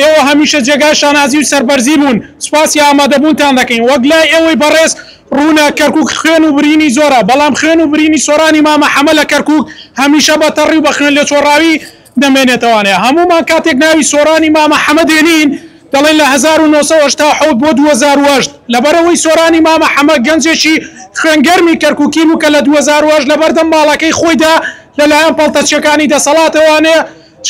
ئێوە هەمیشە جێگای شانازی و سەربەرزی بوون، سوپاسی ئامادەبوونتان دەکەین. وەک لای ئێوەی بەڕێز ڕوونە، کەرکووک خوێن و برینی زۆرە، بەڵام خوێن و برینی سۆرانی مامە حەمە لە کەرکووک هەمیشە بە تەڕی و بە خوێنلێچۆڕاوی دەمێنێتەوانێ. هەموومان کاتێک ناوی سۆرانی مامە حەمە دێنین، دەڵێین لە هەزار و نۆ سەد و هەشتا و حەوت بۆ دوو هەزار و هەشت، لەبەرئەوەی سۆرانی مامە حەمە گەنجێکی خوێنگەرمی کەرکووکی بوو کە لە دوو هەزار و هەشت لەبەردەم ماڵەکەی خۆیدا لەلایەن پەڵتەچییەکانی دەسەڵاتەوانێ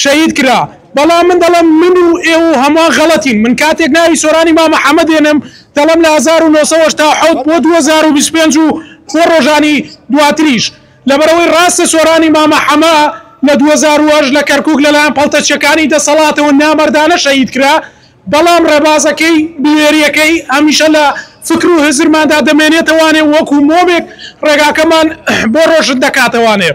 شەهید کرا بەڵام من دەڵێم من و ئێوە و هەموان غەڵەتین من کاتێک ناوی سۆرانی مامە حەمە دێنم دەڵێم لە هەزار و نۆ سەد و هەشتا و حەوت بۆ دوو هەزار و بیست و پێنج و بۆ ڕۆژانی دواتریش لەبەرئەوەی ڕاستە سۆرانی مامە حەمە لە دوو هەزار و هەشت لە کەرکوک لەلایەن پەڵتەچیەکانی دەسەڵاتەوە نامەردانە شەهید کرا بەڵام ڕێبازەکەی بوێریەکەی هەمیشە لە فکر و هزرماندا دەمێنێتەوانێ وەکو مۆمێک ڕێگاکەمان بۆ ڕۆشن دەکاتەوانێ.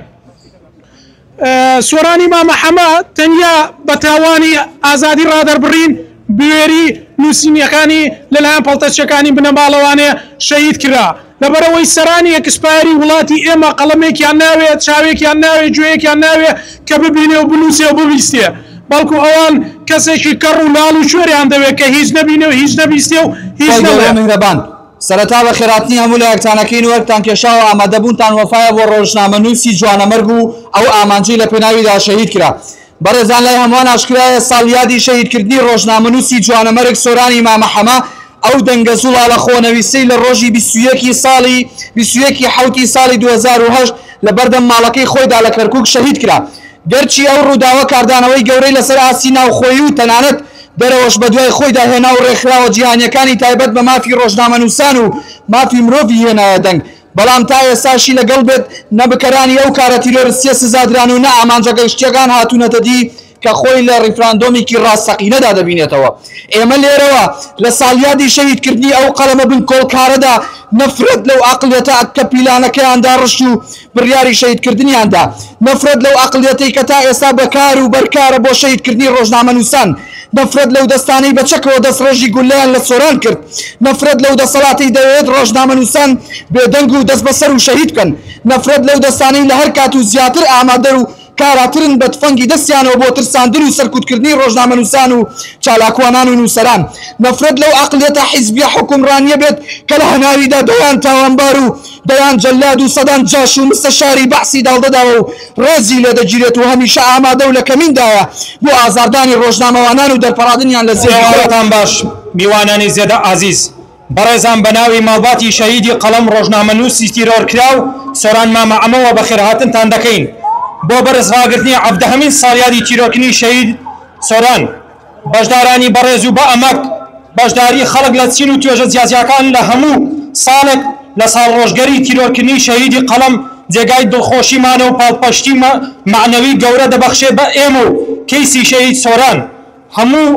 سۆرانی مامە حەمە تەنیا بە تاوانی ئازادی ڕادەربڕین بوێری نووسینیەکانی لەلایەن پەڵتەچەکانی بنەماڵەوانێ شەهید کرا لەبەرئەوەی سەرانی ئێکسپایەری وڵاتی ئێمە قەڵەمێکیان ناوێ چاوێکیان ناوێ گوێیەکیان ناوێ کە ببینێ و بنووسێ و ببیستێ بەڵکو ئەوان کەسێکی کەڕ و لاڵ و کوێریان دەوێ کە هیچ نەبینێ و هیچ نەبیستێ و هیچ نەڵێ. سەرەتا بە خێراتنی هەموو لایەکتان ئەکەین و ئەرکتان کێشا و ئامادە بوونتان وەفایە بۆ ڕۆژنامەنووسی جوانەمەرگ و ئەو ئامانجەی لە پێناویدا شەهید کرا. بەڕێزان لای هەمووان ئاشکرایە ساڵ یادی شەهیدکردنی ڕۆژنامەنووسی جوانەمەرگ سۆرانی مامە حەمە ئەو دەنگە زوڵاڵە خۆنەویستەی لە ڕۆژی بیست و یەک ی ساڵی بیست و یەک ی حەوتی ساڵی دوو هەزار و هەشت لە بەردەم ماڵەکەی خۆیدا لە کەرکوک شەهید کرا. گەرچی ئەو ڕووداوە کاردانەوەی گەورەی لەسەر ئاستی ناوخۆیی و تەنانەت دەرەوەش بەدوای خۆیدا هێنا و ڕێکخراوە جیهانییەکانی تایبەت بە مافی ڕۆژنامەنووسان و مافی مرۆڤی هێنایە دەنگ، بەڵام تا ئێستاشی لەگەڵ بێت نە بکەرانی ئەو کارە تیرۆرستییە سزادران و نە ئامانجە گەشتییەکان هاتوونەتە دی کە خۆی لە ڕیفراندۆمێکی ڕاستەقینەدا دەبینێتەوە. ئێمە لێرەوە لە ساڵیادی شەهیدکردنی ئەو قەڵەمە بنکۆڵکارەدا نەفرەت لەو عەقڵیەتە کە پیلانەکەیان داڕشت و بڕیاری شەهیدکردنیان دا. نەفرەت لەو ئەقڵیەتەی کە تا ئێستا بەکار و بەرکارە بۆ شەهیدکردنی ڕۆژنامەنووسان. نەفرەت لەو دەستانەی بە چەکەوە دەستڕێژی گوللەیان لە سۆران کرد. نەفرەت لەو دەسەڵاتەی دەیەوێت ڕۆژنامەنووسان بێدەنگ و دەستبەسەر و شەهید بکەن. نەفرەت لەو دەستانەی لە هەر کات و زیاتر ئامادەن و کاراترن بە تفەنگی دەستیانەوە بۆ ترساندن و سەرکوتکردنی ڕۆژنامەنووسان و چالاکوانان و نووسەران. نەفرەت لەو عەقڵیەتە حیزبیە حوکمڕانیە بێت کە لە هەناویدا دەیان تاوانبار و دەیان جەلاد و سەدان جاش و مستەشاری بەعسی داڵدەداوە و ڕێزی لێدەگیرێت و هەمیشە ئامادە و لە کەمیندایە بۆ ئازاردانی ڕۆژنامەوانان و دەرپەڕادنیان لە زێدی خۆیان. سڵاوتان باش میوانانی زێدە ئازیز. بەڕێزان بەناوی ماڵباتی شەهیدی قەڵەم ڕۆژنامەنووسی تیرۆرکراو سۆران مامە عەمەوە بەخێرهاتنتان دەکەین بۆ بەرز ڕاگرتنی عەڤدەهەمین ساڵیادی تیرۆرکردنی شەهید سۆران بەشدارانی بەڕێز و بە ئەمەک بەشداری خەڵک لە چین و توێژە جیاجیاکان لە هەموو ساڵێک لە ساڵڕۆژگەری تیرۆرکردنی شەهیدی قەڵەم جێگای دڵخۆشیمانە و پاڵپشتی مەعنەوی گەورە دەبەخشێ بە ئێمە و کەیسی شەهید سۆران هەموو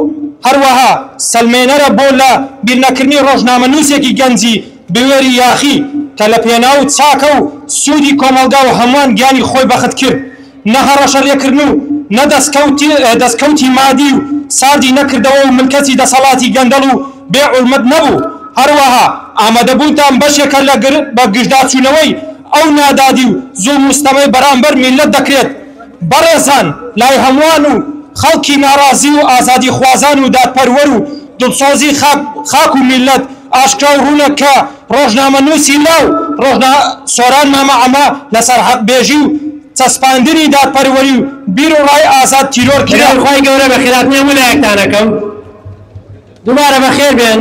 هەروەها سەلمێنەرە بۆ لە بیرنەکردنی ڕۆژنامەنووسێکی گەنجی بوێری یاخی کە لە پێناو چاکە و سوودی کۆمەڵگا و هەمووان گیانی خۆی بەخت کرد نە هەڕەشە لێکردن و نە دەسکەوتی مادی و ساردی نەکردەوە و ملکەچی دەسەڵاتی گەندەڵ و بێ حورمەت نەبوو هەروەها ئامادەبوونتان بەشێکە لە بەگژداچوونەوەی ئەو نادادی و زوڵم و ستەمەی بەرامبەر میللەت دەکرێت. بەڕێزان لای هەموان و خەڵکی ناڕازی و ئازادیخوازان و دادپەروەر و دڵسۆزی خاک و میللەت ئاشکرا و ڕوونە کە ڕۆژنامەنووسی لاو سۆران مامە عەمە لە سەر حەقبێژی و چەسپاندنی دادپەروەری و بیر و ڕای ئازاد تیرۆر کرا. سەلام خوای گەورە بە خێراتنی هەموو لایەکتان ئەکەم دووبارە بەخێر بێن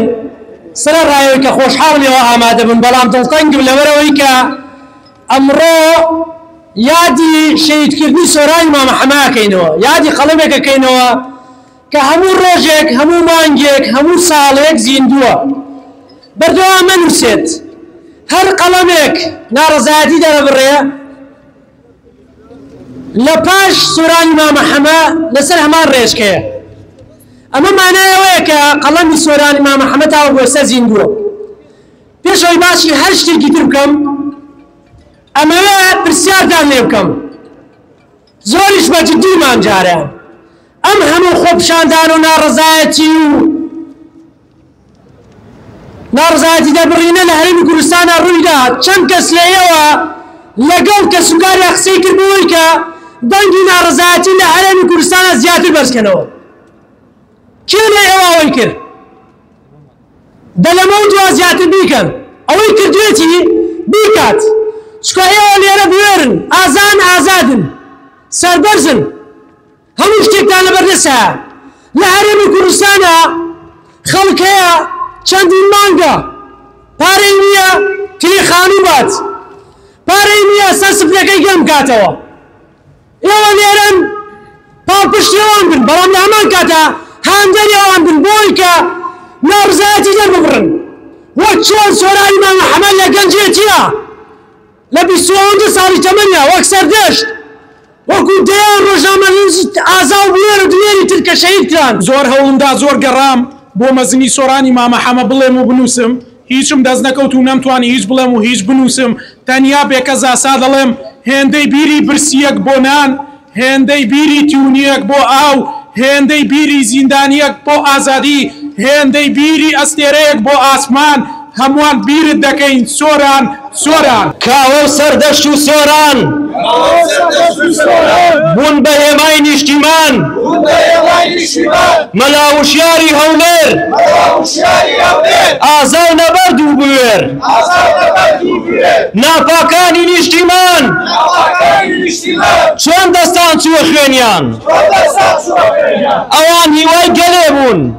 سەرە ڕای ئەوەی کە خۆشحاڵم ئێوە ئامادە بوون بەڵام دڵتەنگم لەبەر ئەوەی کە. ئەمڕۆ یادی شەهیدکردنی سۆرانی مامە حەمە ئەکەینەوە، یادی قەڵەمێک ئەکەینەوە کە هەموو ڕۆژێک، هەموو مانگێک، هەموو ساڵێک زیندووە، بەردەوام ئەنووسێت. هەر قەڵەمێک ناڕەزایەتی دەرەبڕێ، لە پاش سۆرانی مامە حەمە لەسەر هەمان ڕێچکەیە. ئەمە مانای ئەوەیە کە قەڵەمی سۆرانی مامە حەمە تاوەکو ئێستا زیندووە. پێش ئەوەی باسی هەر شتێکی تر بکەم، ئەمەوێ پرسیارتان لێ بکەم، زۆریش بە جدی مامجارە، ئەم هەموو خۆپیشاندان و ناڕەزایەتی و ناڕەزایەتی دەربڕینە لە هەرێمی کوردستانا ڕووی دا، چەند کەس لە ئێوە لەگەڵ کەسوکاریا قسەی کرد بەوەی کە دەنگی ناڕەزایەتی لە هەرێمی کوردستانا زیاتر بەرز کەنەوە؟ کێ لە ئێوە ئەوەی کرد؟ دە لەمەو دوا زیاتر بیکەن ئەوەی کردوێتی بیکات چکە ئێوە لێرە بوێرن ئازان ئازادن سەربەرزن هەموو شتێکتان لەبەردەسە لە هەرێمی کوردستانە خەڵک هەیە چەندین مانگە پارەی نییە کلی خانوو بات پارەی نییە سەر سفرەکەی گەرم کاتەوە ئێوە لێرەن پاڵپشتی ئەوان بن، بەڵام لە هەمان کاتدا هاندەری ئەوان بن بۆ ئەوەی کە ناڕزایەتی دەرببڕن، وەک چۆن سۆرانی مامە حەمە لە گەنجێتییە لە بیست و دو ساڵی تەمەنیا وەک سەردەشت وەکو دەیان ڕۆژنامەنووسی ئازا و بوێر و دلێری تر کە شەهید کران. زۆر هەوڵم دا زۆر گەڕام بۆ مەزنی سۆرانی مامە حەمە بڵێم و بنووسم، هیچم دەست نەکەوت و نەمتوانی هیچ بڵێم و هیچ بنووسم، تەنیا بێ کەزاسا دەڵێم، هێندەی بیری برسییەک بۆ نان، هێندەی بیری تیونییەک بۆ ئاو، هێندەی بیری زیندانییەک بۆ ئازادی، هێندەی بیری ئەستێرەیەک بۆ ئاسمان، هەمووان بیرت دەکەین، سۆران. سۆران. کاوە و سەردەشت و سۆران. کاوە و سەردەشت و سۆران. بوون بە هێمای نیشتیمان. بوون بە هێمای نیشتیمان. مەلا وشیاری هەولێر. مەلا وشیاری هەولێر. ئازای نەبەرد و بوێر. ئازای نەبەرد و بوێر. ناپاکانی نیشتیمان. ناپاکانی نیشتیمان. چۆن دەستان چووە خوێنیان. چۆن دەستان چووە خوێنیان. ئەوان هیوای گەلێ بوون.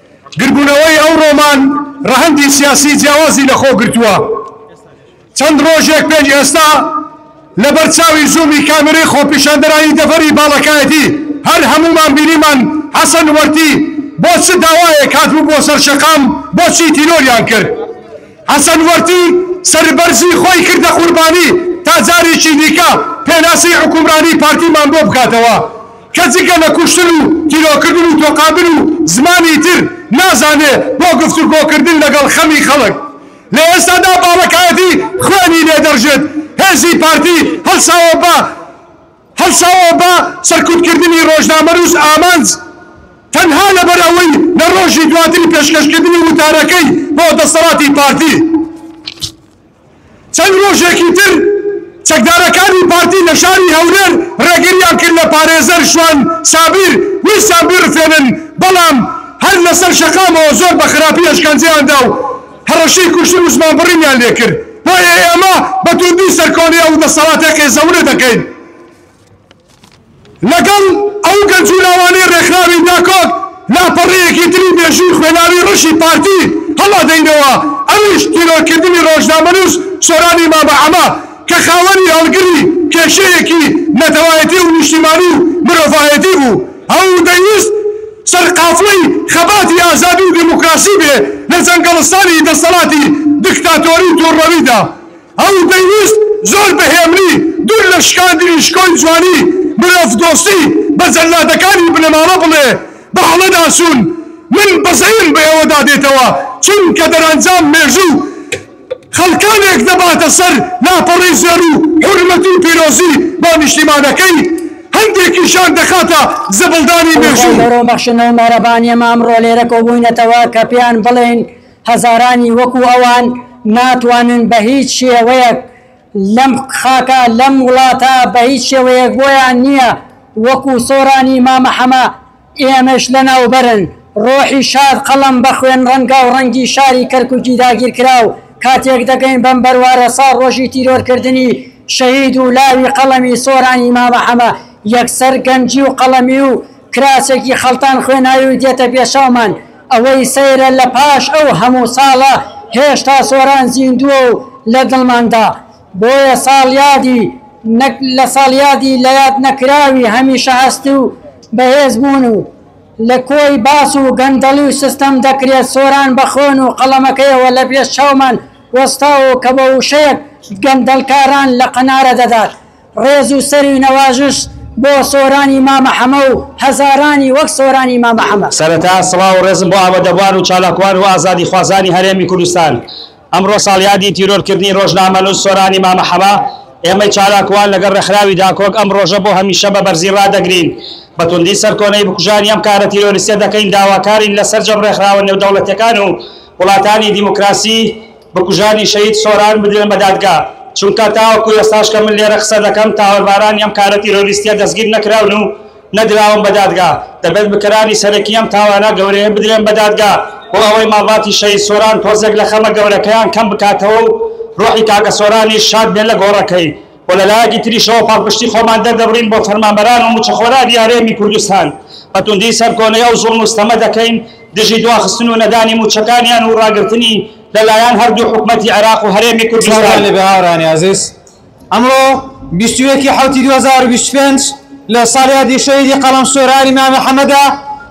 گرگونەوەی ئەو رۆمان رەهەندی سیاسی جیاوازی لە خۆ گرتووە. چەند رۆژێک پێش ئێستا لە بەر چاوی زوومی کامێرەی خۆپیشاندەرانی دەڤەری باڵەکایەتی هەر هەموومان بینیمان حەسەن وەرتی بۆ چ داوایەک هاتبوو بۆ سەر شەقام بۆ چی تیرۆریان کرد؟ حەسەن وەرتی سەربەرزی خۆی کردە قوربانی تا جارێکی دیکە پێناسی حوکمرانی پارتیمان بۆ بکاتەوە. کە جگە لە کوشتن و تیرۆکردن و تۆقاندن و زمانی تر نازانێ بۆ گفتوگۆکردن لەگەڵ خەمی خەڵک لە ئێستادا باڵەکایەتی خوێنی لێ دەڕژێت هێزی پارتی هەڵساوە بە هەڵساوە بە سەرکوتکردنی ڕۆژنامەنووس ئامانج تەنها لەبەر ئەوەی لە ڕۆژی دواتری پێشکەشکردنی وتارەکەی بۆ دەسەڵاتی پارتی چەند رۆژێکی تر چەکدارەکانی پارتی لە شاری هەولێر رێگریان کرد لە پارێزەر شوان سابیر ویستیان بیڕفێنن، بەڵام هەر لەسەر شەقامەوە زۆر بە خراپی ئەشکەنجەیان دا و هەڕەشەی کوشتن و زمانبڕینیان لێکرد، بۆیە ئێمە بە تووندی سەرکۆنەی ئەو دەسەڵاتە قێزەونە دەکەین. لەگەڵ ئەو گەنج و لاوانەی ڕێکخراوی داکۆک لاپەڕەیەکی تری مێژووی خوێناوی ڕەشی پارتی هەڵادەینەوە، ئەویش تیرۆرکردنی ڕۆژنامەنووس سۆرانی مامەعەمە کە خاوەنی هەڵگری کێشەیەکی نەتەوایەتی و نیشتیمانی و مرۆڤایەتی بوو و دەیویست سەرقافڵەی خەباتی ئازادی و دیموکراسی بێ لە جەنگەڵستانی دەسەڵاتی دکتاتۆری توڕەویدا. ئەو دەیویست زۆر بە هێمنی دوور لە شکاندنی شکۆی جوانی مرۆڤدۆستی بە جەللادەکانی بنەماڵە بڵێ، بەهەڵەداچوون، من بەزەیم بە ئێوەدا دێتەوە، چونکە دەرەنجام مێژوو خەڵکانێک دەباتە سەر لاپەڕەی زێڕ و حورمەت و پیرۆزی بۆ نیشتیمانەکەی، هەندێکیشیان دەخاتە زبڵدانی مێژوو. ئەوڕۆ بەخشن و مەهرەبانییەمە ئەمڕۆ لێرە کۆبووینەتەوە کە پێیان بڵێین، هەزارانی وەکو ئەوان ناتوانن بە هیچ شێوەیەک لەم خاکە لەم وڵاتە بە هیچ شێوەیەک بۆیان نیە وەکو سۆرانی مامە حەمە ئێمەش لەناوبەرن ڕۆحی شاد قەڵەم بە خوێن ڕەنگاو ڕەنگی شاری کەرکوکی داگیرکراو کاتێک دەگەین بەم بەروارە ساڵ ڕۆژی تیرۆر کردنی شەهید و لاوی قەڵەمی سۆرانی مامە حەمە یەکسەر گەنجی و قەڵەمی و کراچێکی خەڵتان خوێناوی و دێتە پێشەومان، ئەوەی سەیرە لە پاش ئەو هەموو ساڵە هێشتا سۆران زیندووە و لە دڵماندا، بۆیە ساڵیادی نەک لە ساڵیادی لە یاد نەکراوی هەمیشە هەستی و بەهێز بوون و لە کۆی باس و گەندەڵی و سستەم دەکرێت سۆران بە خۆن و قەڵەمەکەیەوە لە پێش چاومان وەستاوە و کە بە وشەیەک گەندەڵکاران لە قەنارە دەدات ڕێز و سەروی نەوازش بۆ سۆرانی مامە حەمە و هەزارانی وەک سۆرانی مامە حەمە. سەرەتا سڵاو و ڕێزم بۆ ئامادەبوان و چالاکوان و ئازادی خوازانی هەرێمی کوردستان. ئەمڕۆ ساڵیادی تیرۆر کردنی ڕۆژنامەنووس سۆرانی مامە حەمە، ئێمەی چالاکوان لەگەڵ ڕێکخراوی داکۆک ئەم ڕۆژە بۆ هەمیشە بە بەرزی ڕادەگرین. بە توندی سەرکۆنەی بکوژانی ئەم کارە تیرۆریستە دەکەین داواکارین لە سەرجەم ڕێکخراوە نێودەوڵەتیەکان و وڵاتانی دیموکراسی بکوژانی شەهید سۆران بدرێن بە دادگا، چونکە تاوەکو ئێستاش کە من لێرە قسە دەکەم تاوەربارانی ئەم کارە تیرۆریستیە دەستگیر نەکراون و نەدراون بە دادگا، دەبێت بکەرانی سەرەکی ئەم تاوانە گەورەیە بدرێن بە دادگا بۆ ئەوەی ماڵباتی شەهید سۆران تۆزێک لە خەمە گەورەکەیان کەم بکاتەوە و ڕۆحی کاکە سۆرانیش شاد بێت لە گۆڕەکەی. و لە لایەکی تریشەوە پاڵپشتی خۆمان دەردەبڕین بۆ فەرمانبەران و مچەخۆرانی هەرێمی کوردستان، بە توندی سەرکۆنەی ئەو زوڵم و ستەمە دەکەین دژی دواخستن و نەدانی موچەکانیان و ڕاگرتنی لە لایەن هەردوو حکومەتی عێراق و هەرێمی کوردستان. سڵاوتان لێبێ هاوڕێیانی ئازیز، ئەمڕۆ بیست و یەک ی حەوتی دوو هەزار و بیست و پێنج لە ساڵیادی شەهیدی قەڵەم سۆرانی مامە حەمەدە،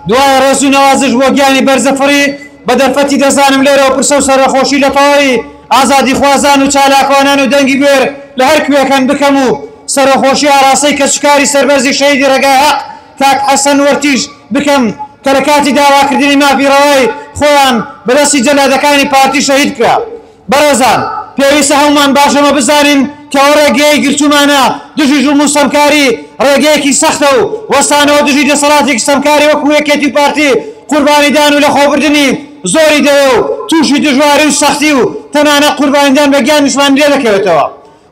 دوای ڕێز و نەوازش بۆ گیانی بەرزەفڕی بە دەرفەتی دەزانم لێرەوە پرسە و سەرەخۆشی لە تەواوی ئازادیخوازان و چالاکوانان و دەنگی بوێر لە هەر کوێکن بکەم و سەرەخۆشی ئاراستەی کەسوکاری سەربەرزی شەهیدی ڕێگای هەق کاک حەسەن وەرتیش بکەم کە لە کاتی داواکردنی مافی ڕەوای خۆیان بە دەستی جەلادەکانی پارتی شەهید کرا بەڕێزان پێویستە هەموومان باش ئەمە بزانین کە ئەو ڕێگەیەی گرتوومانە دژی زوڵم و ستەمکاری ڕێگەیەکی سەختە و وەستانەوە دژی دەسەڵاتێکی ستەمکاری وەکو یەکێتی و پارتی قوربانیدان و لەخۆبردنی زۆری دەوێ و تووشی دژواری و سەختی و تەنانەت قوربانیدان بە گیانی زمانی لێ دەکەوێتەوە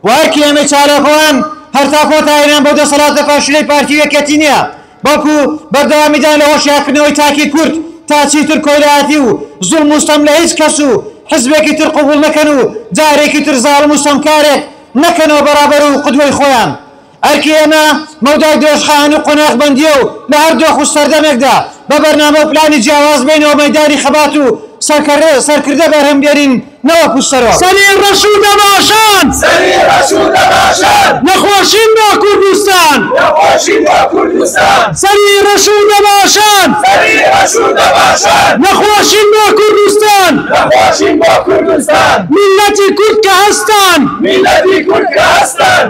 و ئەرکی ئێمەی چالاکوان هەر تا کۆتایی نان بەو دەسەڵاتە فاشلەی پارتی و یەکێتی نییە بەڵکو بەردەوامیدان لە هۆشیارکردنەوەی تاکی کورد تا چیتر کۆیلایەتی و زوڵم و ستەم لە هیچ کەس و حزبێکی تر قبوڵ نەکەن و جارێکی تر زاڵم و ستەمکارێک نەکەنەوە بەڕابەر و قدوەی خۆیان ئەرکی ئێمە مەودای درێژخایەن و قۆناغبەندییە و لە هەر دۆخ و سەردەمێکدا بە بەرنامە و پلانی جیاواز بێینەوە مەیدانی خەبات و سەرکردە بەرهەم بێنین نەوەکو سەرۆک. سەری ڕەش و دەباشان. سەری ڕەش و دەباشان. نەخۆشین بۆ کوردستان. نەخۆشین بۆ کوردستان. سەری ڕەش و دەباشان. سەری ڕەش و دەباشان. نەخۆشین بۆ کوردستان. نەخۆشین بۆ کوردستان. میللەتی کورد کە هەستان. میللەتی کورد کە هەستان.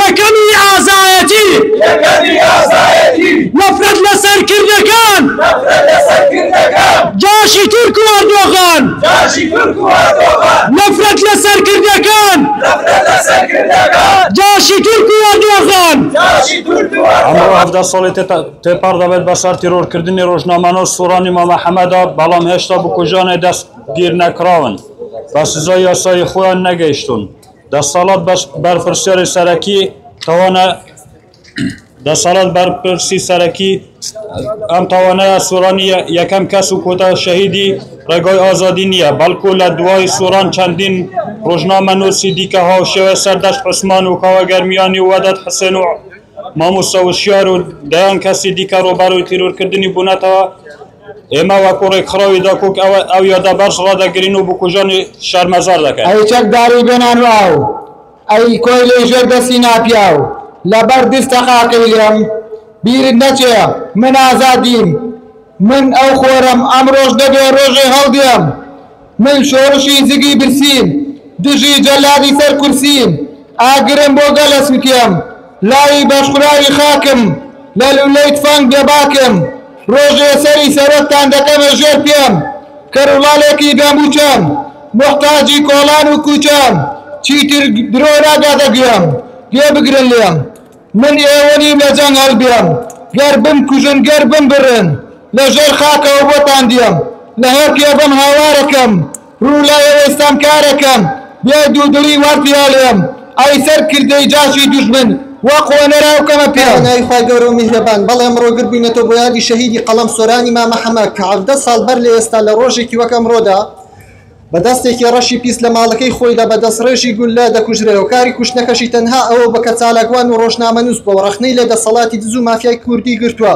یەکەمی ئازایەتی، یەکەمی ئازایەتی. نەفرەت لە سەرکردەکان، نەفرەت لە سەرکردەکان. جاشی تورک و ئەردۆغان، جاشی تورک و ئەردۆغان. نەفرەت لە سەرکردەکان، نەفرەت لە سەرکردەکان. جاشی تورک و ئەردۆغان، جاشی تورک و ئەمڕۆ ئەردۆغان. هەڤدە ساڵی تێپەڕ دەبێت بە سەر تیرۆرکردنی ڕۆژنامەنووس و سۆرانی مامە حەمەدا، بەڵام هێشتا بکوژانێ دەستگیرنەکراون، بە سزای یاسایی خۆیان نەگەیشتوون. دەسەڵات بەرپرسیاری سەرەکی تاوانە دەسەڵات بەرپرسی سەرەکی ئەم تاوانەیە سوڕانی یەکەم کەس و کۆتا شەهیدی ڕێگای ئازادی نییە بەڵکو لە دوای سوڕان چەندین ڕۆژنامە نووسی دیکە هاوشێوە سەردەشت عوسمان و کاوە گەرمیانی و وەدەت حسێن و مامۆستا وشیار و دەیان کەسی دیکە ڕووبەڕووی تیرۆرکردنی بوونەتەوە ئێمە وەکو ڕێکخراوی دەکوک ئەو یادە بەرز ڕادەگرین و بکوژانی شەرمەزار دەکەین. ئەی چەکداری بێ نان و ئاو، ئەی کۆیلەی ژێر دەستی ناپیاو، لەبەر دستە قاقەی لێم بیرت نەچێ من ئازادیم، من ئەو خۆرەم ئەمڕۆش نەبێ ڕۆژێ هەڵدێم. من شۆڕشی جگی برسیم، دژی جەلادی سەر کورسیم، ئاگرم بۆ گەل ئەسوتێم، لاوی بەشخوراوی خاکم، لە لوولەی تفەنگ بێباکم، ڕۆژێ سەری سەرۆکتان دەکەمە ژێر پێم، کەروڵالێکی بێمووچەم، موحتاجی کۆڵان و کووچەم، چیتر درۆ ناگاتە گوێم، گوێ بگرن لێم. من ئێوە نیم لە جەنگ هەڵبێم گەر بمکوژن گەر بمبڕن لە ژێر خاکەوە بۆتان دێم لە هێڵ کێبم هاوارەکەم ڕوو لای ئێوەی ستەمکارەکەم بێ دوودڵی وەرتی ئەلێم ئەی سەر کردەی جاشی دوژمن وە قۆنەر ئەوکەمە پێم. بە ناوی خوای گەورە و میهرەبان بەڵێ ئەمڕۆ گرد بووینەتەوە بۆ یادی شەهیدی قەڵەم سۆرانی مامە حەمە کە حەڤدە ساڵ بەر لە ئێستا لە ڕۆژێکی وەک ئەمڕۆدا، بە دەستێکی ڕەشی پیس لە ماڵەکەی خۆیدا بە دەستڕێژی گوللە دەکوژرێ و کاری کوشتنەکەشی تەنها ئەوە بووە کە چالاکوان و ڕۆژنامەنووس بووە و ڕەخنەی لە دەسەڵاتی دز و مافیای کوردی گرتووە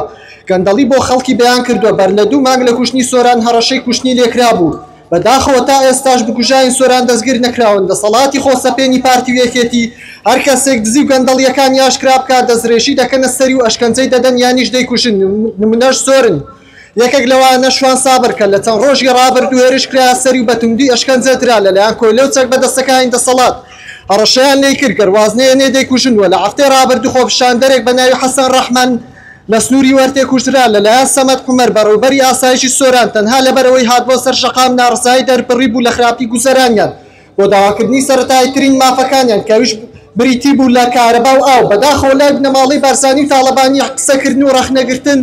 گەندەڵی بۆ خەڵکی بەیان کردووە بەر لە دوو مانگ لە کوشتنی سۆران هەڕەشەی کوشتنی لێکرابوو بە داخەوە تا ئێستاش بکوژاین سۆران دەستگیر نەکراون دەسەڵاتی خۆسەپێنی پارتی و یەکێتی هەر کەسێک دزی و گەندەڵیەکانی ئاشکرا بکات دەسترێژی دەکەنە سەری و ئەشکەنجەی دەدەن یانیش دەیکوژن نمونەش زۆرن. یەکێک لەوانە شوان سابر کە لە چەند ڕۆژی ڕابردوو هێرش کرایە سەری و بە توندی ئەشکەنجە درا لەلایەن کۆیلە و چەک بەدەستەکانی دەسەڵات هەڕەشەیان لێی کرد گەر واز نەهێنێ دەیکوژن وە لە هەفتەی ڕابردوو خۆپیشاندەرێک بە ناوی حەسەن ڕەحمان لە سنووری وەرتێ کوژرا لەلایەن سەمەد عومەر بەڕێوبەری ئاسایشی سۆران تەنها لەبەرئەوەی هات بۆ سەر شەقام ناڕەزایی دەربڕی بوو لە خراپی گوزەرانیان بۆ داواکردنی سەرەتاییترین مافەکانیان کەویش بریتی بوو لە کارەبا و ئاو بەداخەوە لای بنەماڵەی بارزانی و تاڵەبانی قسەکردن و ڕەخنەگرتن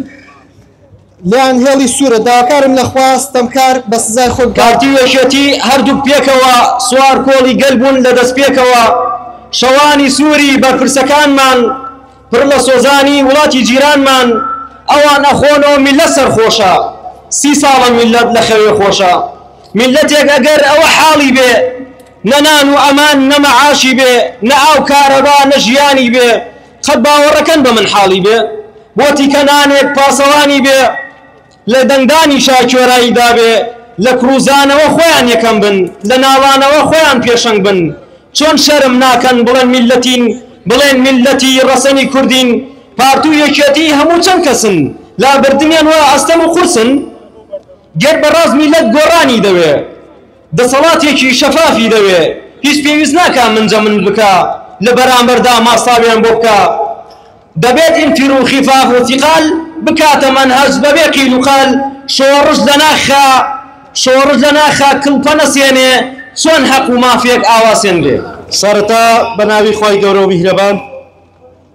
لێیان هێڵی سوورە، داواکارم لە خوا ستەمکار بە سزای خۆی بکات. پارتی و یەکێتی هەردووک پێکەوە سوار کۆڵی گەل بوون لە دەستپێکەوە شەوانی سووری بەرپرسەکانمان پڕ لە سۆزانی وڵاتی جیرانمان ئەوان ئەخۆنەوە میللەت سەرخۆشە سی ساڵە میللەت لە خەوێ خۆشە میللەتێک ئەگەر ئەوە حاڵی بێ نە نان و ئەمان نە مەعاشی بێ نە ئاو کارەبا نە ژیانی بێ قەت باوەڕەکەن بە من حاڵی بێ بۆ تیکە نانێک پاسەوانی بێ لە دەنگدانی شاکۆرایی دابێ لە کڕوزانەوە خۆیان یەکەم بن لە ناڵانەوە خۆیان پێشەنگ بن چۆن شەرم ناکەن بڵێن میلەتین بڵێن میلەتی ڕەسەنی کوردین پارت و یەکێتی هەموو چەند کەسن لابردنیان وە ئەستەم و قورسن گەر بەڕاست میلەت گۆڕانی دەوێ دەسەڵاتێکی شەفافی دەوێ، هیچ پێویست ناکا منجە منج بکا لە بەرامبەردا ماستاویان بۆ بکا، دەبێت ئینتر و خفاف و ثقال بکاتە مەنهەج بەبێ قیل و قال، شۆڕش لە ناخا شۆڕش لە ناخا کڵپە نەسێنێ، چۆن هەق و مافێک ئاوا سێنرێ؟ سەرەتا بەناوی خوای گەورە و میهرەبان.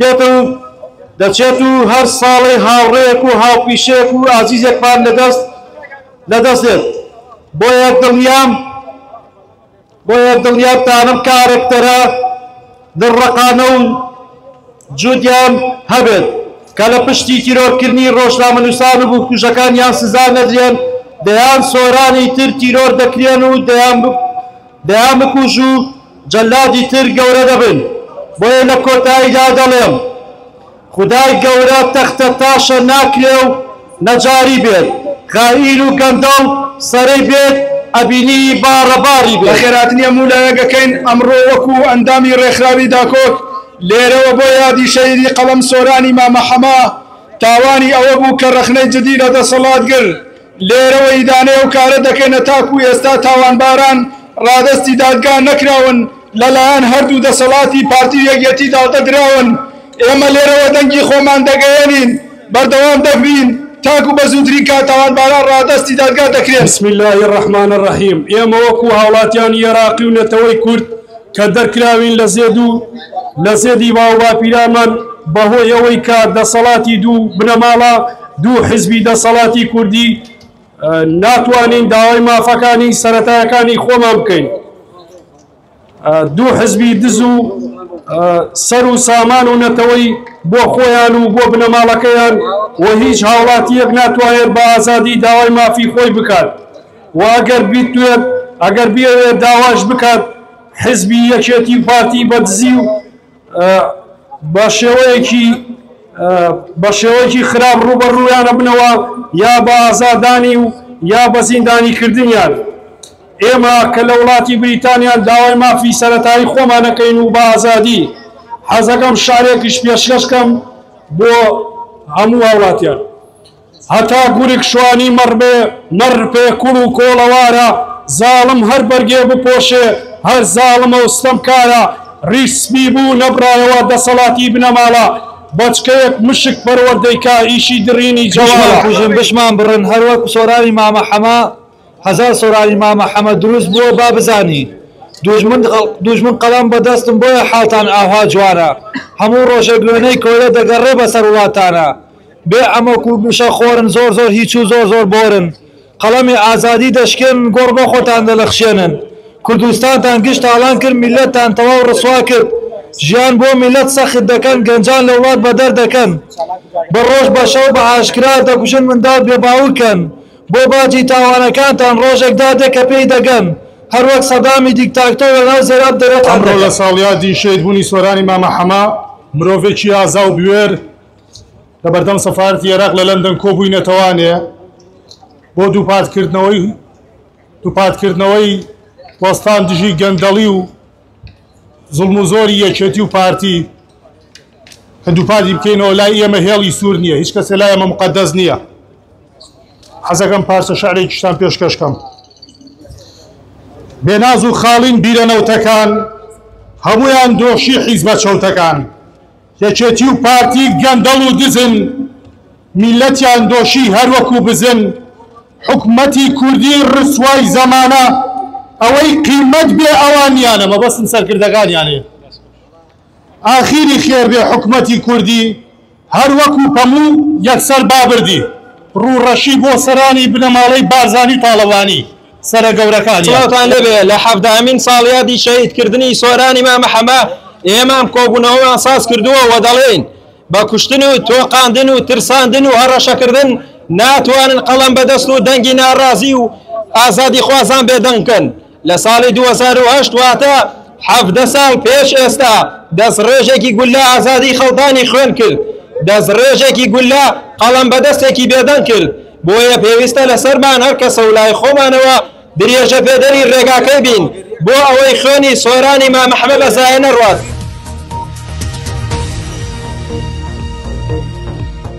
دێت و دەچێت و هەر ساڵێ هاوڕێیەک و هاوپیشەیەک و ئازیزێکمان لەدەست لەدەستێت بۆیە دڵنیام بۆیە دڵنیام تانم کارەکتەرە دڵڕەقانە و جودیان هەبێت کە لە پشتی تیرۆرکردنی ڕۆژنامەنووسان و بکوژەکانیان سزا نەدرێن دەیان سۆرانی تر تیرۆر دەکرێن و دەیان دەیان بکوژ و جەلادی تر گەورە دەبن بۆیە لە کۆتاییدا دەڵێم خودای گەورە تەختە تاشە ناکرێ و نەجاری بێت خائین و گەندەڵ سەرەی بێت ئەبینی باڕە باڕی بێت. بەخێرهاتنی هەموو لایەک ئەکەین ئەمڕۆ وەکو ئەندامی ڕێکخراوی داکۆک لێرەوە بۆ یادی شەهیدی قەڵەم سۆرانی مامە حەمە تاوانی ئەوەبوو کە ڕەخنەی جدی لە دەسەڵاتگر، لێرەوە ئیدانەی ئەو کارە دەکەینە تاکو ئێستا تاوانباران ڕادەستی دادگا نەکراون لەلایەن هەردوو دەسەڵاتی پارتی و یەکیەتی داڵدە دراون ئێمە لێرەوە دەنگی خۆمان دەگەیەنین بەردەوام دەبین تاکو بە زووترین کات تاوانباران ڕادەستی دادگا دەکرێن. بسم اللە الرحمن الرحیم ئێمە وەکو هاوڵاتیانی ئێراقی و نەتەوەی کورد کە دەرکراوین لە زێد و لە زێدی باوباپیرانمان بەهۆی ئەوەی کە دەسەڵاتی دوو بنەماڵە دوو حزبی دەسەڵاتی کوردی ناتوانین داوای مافەکانی سەتایەکانی خۆمان بکەین دوو حزبی دز و سەر و سامان و نەتەوەی بۆ خۆیان و بۆ بنەماڵەکەیان و هیچ هاوڵاتیەک ناتوانێت بە ئازادی داوای مافی خۆی بکات و ئەگەر بیتوێت ئەگەر بێت داواش بکات حزبی یەکێتی و پارتی بە دزی و بە شێوەیەکی بە شێوەیەکی خراپ ڕوبەڕویانە بنەوە یا بە ئازادانی و یا بە زیندانی کردنیان ئێمە کە لە وڵاتی بریتانیان داوای مافی سەرەتایی خۆمانەکەین و بە ئازادی حەزەکەم شارێکیش پێشکەشکەم بۆ هەموو هاوڵاتیان هەتا گورگ شوانی مەڕ بێ مەڕ پێ کوڵ و کۆڵەوارە زاڵم هەر بەرگێ بپۆشێ هەر زاڵمە و ستەمکارە ڕیش سپی بوو نەبڕایەوە دەسەڵاتی بنەماڵە بەچکەیەک مشک پەروەردەی کا ئیشی دڕینی جەوالە. بشمان کوژن بشمان بڕن هەر وەک سۆرانی مامە حەمە هەزار سۆرانی مامە حەمە دروست بووە با بزانی دوژمن دوژمن قەڵەم بە دەستم بۆیە حاڵتان ئاوها جوانە هەموو ڕۆژێک وێنەی کۆیلە دەگەڕێ بەسەر وڵاتانا بێ عەمەک و مشە خۆرن زۆر زۆر هیچ و زۆر زۆر بۆرن قەڵەمی ئازادی دەشکێنن گۆڕ بۆ خۆتان دەلەخشێنن کوردستانتان گشت تاڵان کرد میلەتتان تەواو ڕسوا کرد ژیان بۆ میلەت سەخت دەکەن گەنجان لە وڵات بەدەر دەکەن بە ڕۆژ بە شەو بە ئاشکرا دەکوژن منداڵ بێ باوکن بۆ باجی تاوانەکانتان ڕۆژێک دادێ کە پێی دەگەن هەر وەک سەدامی دیکتاکتۆر لە ناو زێر ئەپ دەرەتان دەکەن. ئەمڕۆ لە ساڵیادی شەهیدبوونی سۆرانی مامە حەمە، مرۆڤێکی ئازا و بوێر، لە بەردەم سەفارەتی عێراق لە لەندەن کۆبووینەتەوانێ بۆ دووپاتکردنەوەی دووپاتکردنەوەی وەستان دژی گەندەڵی و زڵم و زۆری یەکێتی و پارتی کە دووپاتی بکەینەوە لای ئێمە هێڵی سوور نییە هیچ کەسێ لای ئەمە مقدەس نییە حەزەکەم پارچە شعرێکیشتان پێشکەشکەم بێناز و خاڵین بیرە نەوتەکان هەمویان دۆشی حیزبە چەوتەکان یەکێتی و پارتی گەندەڵ و دزن میلەتیان دۆشی هەر وەکو بزن حکومەتی کوردی ڕسوای زەمانە ئەوەی قیمەت بێ ئەوانیانە مەبەستم سەرکردەکانیانێ ئاخیری خێر بێ حکومەتی کوردی هەر وەکو پەموو یەکسەر بابردی ڕوڕەشی بۆ سەرانی بنەماڵەی بارزانی و تاڵەبانی سەرە گەورەکانیان. سڵاوتان لێبێ لە حەڤدەهەمین ساڵیادی شەهید کردنی سۆرانی مامە حەمە ئێمەم کۆبوونەوەمان ساز کردووە و دەڵێین بە کوشتن و تۆقاندن و ترساندن و هەڕەشەکردن ناتوانن قەڵەم بە دەست و دەنگی ناڕازی و ئازادی خوازان بێدەنگ بکەن لە ساڵی دوو هەزار و هەشت واتە حەڤدە ساڵ پێش ئێستا دەست ڕێژێکی گولە ئازادی خەڵتانی خوێن کرد دەست ڕێژێکی گولە قەڵەم بە دەستێکی بێدەنگ کرد بۆیە پێویستە لەسەرمان هەر کەسە و لای خۆمانەوە درێژەپێدەری ڕێگاکەی بین بۆ ئەوەی خوێنی سۆرانی مام ئەحمەد بە زایە نەڕوات.